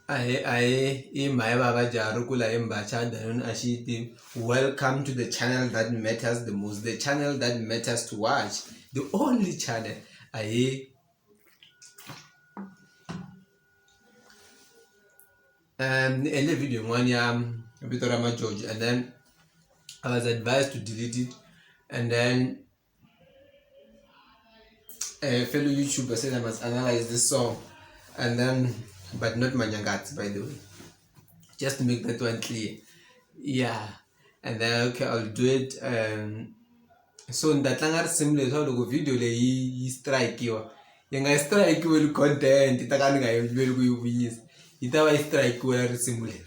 Ahe ahe i mhai vava Jarukula hi mbachada yona a xi yi tivi welcome to the channel that matters the most the channel that matters to watch the only channel ahe. ni endle video yin'wana ya vito ra majoji and then I was advised to delete it and then uh, fellow YouTuber said I must analyze this song, and then but not Manyangatsi by the way, just to make that one clear. Yeah, and then okay, I'll do it. Um, so ndatlanga risimu leswi loko video leyi yi strikewa yi nga strikewe li content yi ta ka ni nga yiveli ku yi vuyisa yi ta va yi strikewe risimu leri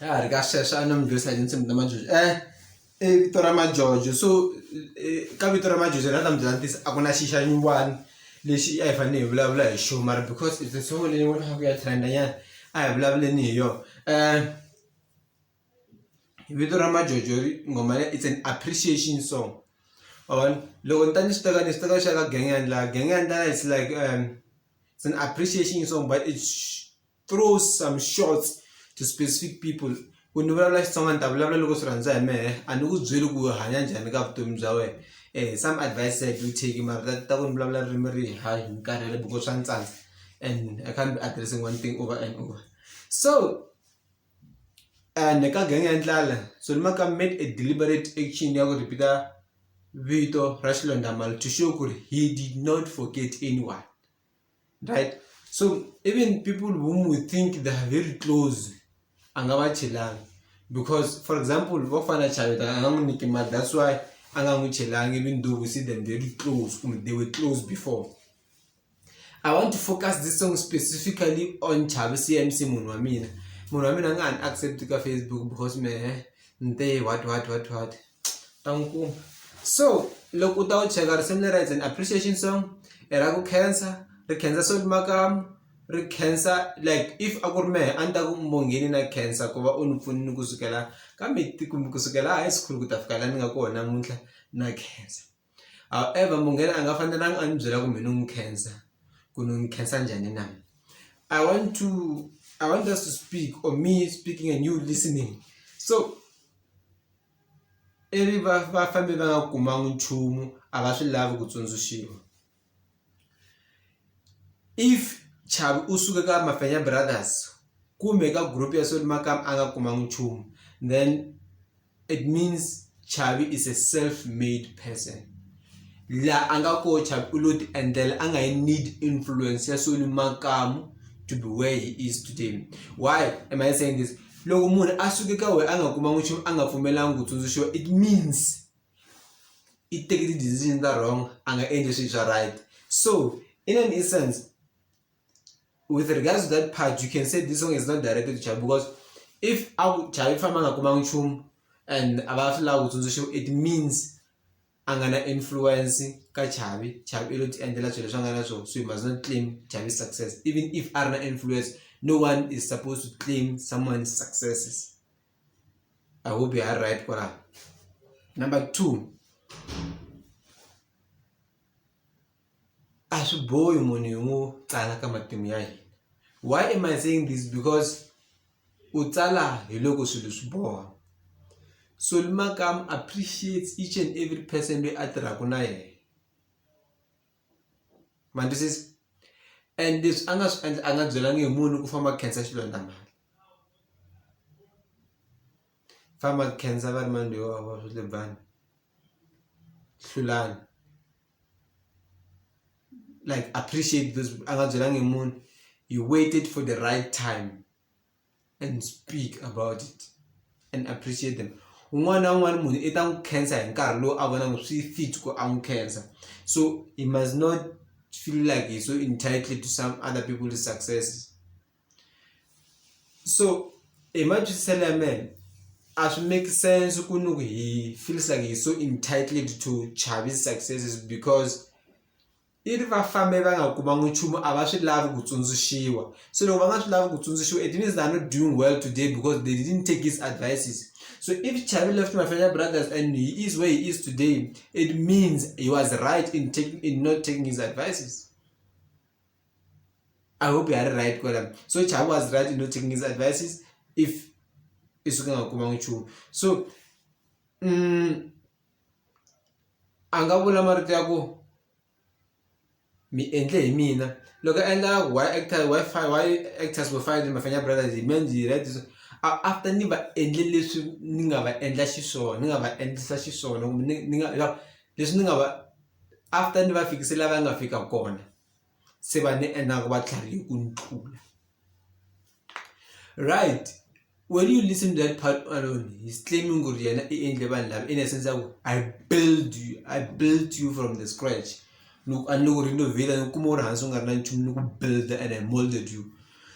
ya ha ri ka sweswo a ni mi dyondzisa hi tinsimu ta majojo e i vito ra majojo so ka vito ra majojo ra ta mi byela ntiyiso a ku na xi xa nyuwani lexi a hi fanele hi vulavula hi xona mara because it's a song leyi ni vonaka ya trend-a nyana a hi vulavuleni hi yona vito ra majojo nghoma leyi it's an appreciation song ma vona loko ni ta ni swi teka ni swi teka xa ka gang yandla gang yandla it's like it's an appreciation song but it's. through some shorts to specific people ku ni vulavula xitsonga ni ta vulavula loko swi rhandza hi mehe a ni ku byeli ku hanya njhani ka vutomi bya wena um some advice i do take mara ta ta ku ni vulavula ririmi rihi hayi ni karhele because swa ni tsandza and i can't be addressing one thing over and over so and ka gang ya ndlala so ni maka made a deliberate action ya ku repeater vito ra xilondamali to show ku ri he did not forget anyone right so even people whom we think they are very close anga vachelangi because for example vafana chaveta angamunike mari that's why angamuchelangi even though we see them very close kumbe they were close before i want to focus this song specifically on chavi cmc munhu wa mina munhu wa mina a nga ha ni accept ka facebook because mehe nte what what what what, what? ta n'wi kuma so loko u ta wu cheka risimu lera it's an appreciation song i ra ku khensa ri khensa Solly Makamu ri khensa like if a ku ri mehe a ni ta ku mbongheni na khensa ku va u ni pfunile kusukela ka kusukela high school ku ta fika la ni nga kona namuntlha na khensa. However munghana a nga fanelanga a ni byela ku mina u n'wi khensa ku ni n'wi khensa njhani na I want to I want us to speak or me speaking and you listening so ivi va va fambe va nga kumanga nchumu a va swi lavi ku tsundzuxiwa. if chavi u suke ka mafenya brothers kumbe ka group ya soli makama a nga kumangi nchumu then it means chavi is a self made person la a nga ko chavi u lo ti endlela a nga yi need influence ya soli makamu to be where he is today why am i saying this loko munhu a suke ka wena a nga kumangi nchumu a nga pfumelanga ku tsundzuxiwa it means i teki ti-decision ta wrong a nga endli swilo swa right so in an essence with regards to that part you can say this song is not directed to Chavi because if a ku Chavi ku famba a nga kumanga nchumu and a va swi lava ku tsundzuxiwa it means a nga na influence ka Chavi Chavi i lo ti endlela swilo leswi a nga na swona so you must not claim Chavi success even if a ri na influence no one is supposed to claim someone successes. I hope you are right for that. Number two, a swi bohi munhu hi n'wi tsala ka matimu ya hina why am i saying this because u tsala hi loko swilo swi boha so limakam appreciates each and every person loyi a tirhaka na yena ma twisisa and leswi a nga swi endla a nga byelangi hi munhu ku famba khensa xilondza mali famba khensa va ri mani loyi wa swi lebani hlulani like appreciate this a nga byelangi hi munhu he waited for the right time. and speak about it and appreciate them un'wana na un'wana munhu i ta n'wi khensa hi nkarhi lowu a vonaka swi fit ku a n'wi khensa so he must not feel like he's so entitled to some other people's successes so hi matwisiselo ya mena a swi make sense ku ni ku he feels like he's so entitled to chavis successes because i ri va fambe va nga kumanga nchumu a va swi lavi ku tsundzuxiwa so loko va nga swi lavi ku tsundzuxiwa it means they're not doing well today because they didn't take his advices so if chavi left mafenya brothers and he is where he is today it means he was right in, taking, in not taking his advices i hope you are right kwela so chavi was right in not taking his advices if isuke ngakumanga nchumu so mm, a nga vula marito ya ku mi endle hi mina loko a endla why actor why why actors vo fana na Bafana Brothers hi mi endle hi right so after ni va endle leswi ni nga va endla xiswona ni nga va endlisa xiswona kumbe ni ni nga leswi ni nga va after ni va fikise la va nga fika kona se va ni ingaku va tlharihile ku ni tlula right when you listen to that part alone he's claiming ku ri yena i endle vanhu lava in a sense ya ku i build you i built you from the scratch ni ku a ni ku renovate ni kuma u ri hansi u nga ri na nchumu ni ku build and i molded you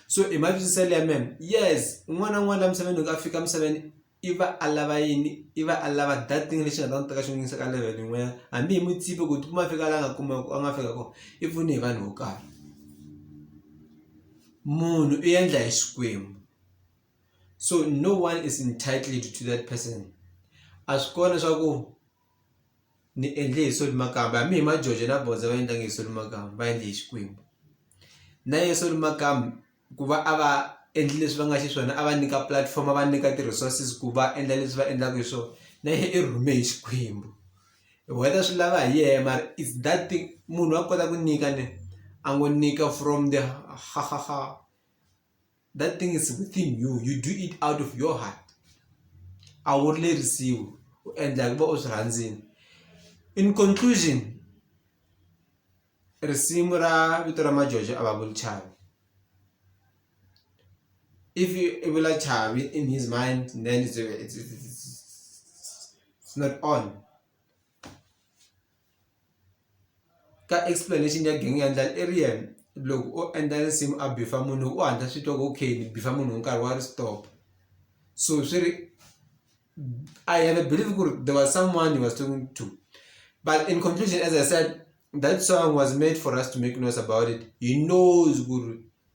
so hi matwisiselo ya mena yes un'wana na un'wana la misaveni loko a fika misaveni i va a lava yini i va a lava that thing lexi nga ta n'wi teka xi n'wi yisa ka level yin'wanyana hambi hi n'wi tsipi ku tikuma a fika la a nga kuma a nga fika kona i pfune hi vanhu vo karhi munhu i endla hi xikwembu so no one is entitled to that person a swi kona swa ku. ni endle hi Soli Makamba hambi hi majojo na bondza va endlangi hi Soli Makamba va endle hi Xikwembu na ye Soli Makamba ku va a va endli leswi va nga xiswona a va nyika platform a va nyika ti-resources ku va endla leswi va endlaka hi swona na ye i rhume hi Xikwembu whether swi lava hi yena mara is that thing munhu wa kota ku nyika ne a ngo nyika from the . that thing is within you you do it out of your heart a wu lerisiwi u endla ku va u swi rhandzini in conclusion risimu ra vito ra majojo a va vuli chavi if i vula chavi in his mind then it's, it's, it's, it's not on ka explanation ya gang yendla Ariel loko o endla nsimu a beef-a munhu u hatla swi twa ku okay ni beef-a munhu hi nkarhi wa ri stop so swi ri I have a believe ku ri there was someone he was talking to but in conclusion as I said that song was made for us to make noise about it he knows ku ri